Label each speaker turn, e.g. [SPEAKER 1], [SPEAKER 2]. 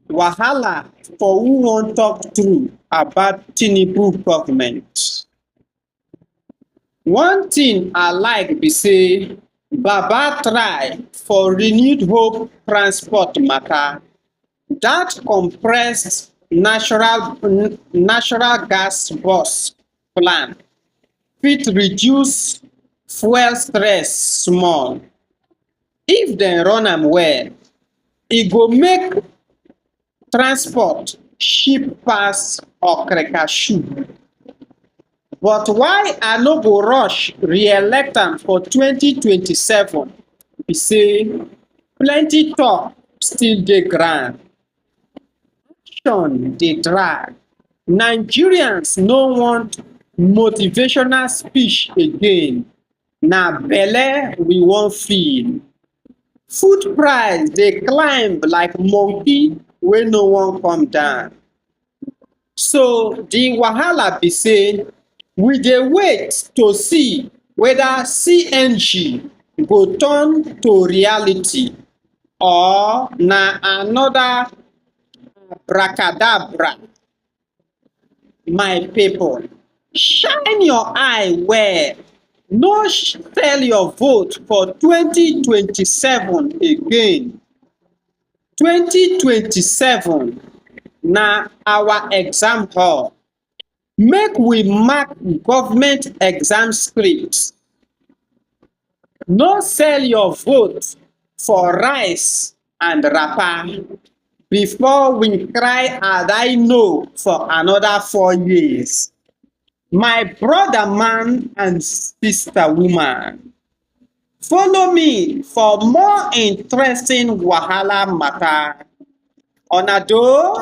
[SPEAKER 1] wahala for who wan talk true about tinubu government one thing i like be say baba try for renewed hope transport matter that compressed natural natural gas bus plan fit reduce fuel stress small if dem run am well e go make transport cheap pass okrika shoe but why i no go rush re-elect am for 2027 be say plenty talk still dey ground action dey drag nigerians no want motivational speech again na belle we wan fill food price dey climb like monkey wey no wan come down so the wahala be say we dey wait to see whether cng go turn to reality or na another abracadabra my people shine your eye well no sell your vote for 2027 again 2027 na our exam hall make we mark government exam script no sell your vote for rice and wrapper before we cry as I know for another four years. My brother man and sister woman, follow me for more interesting Wahala matter. Onado.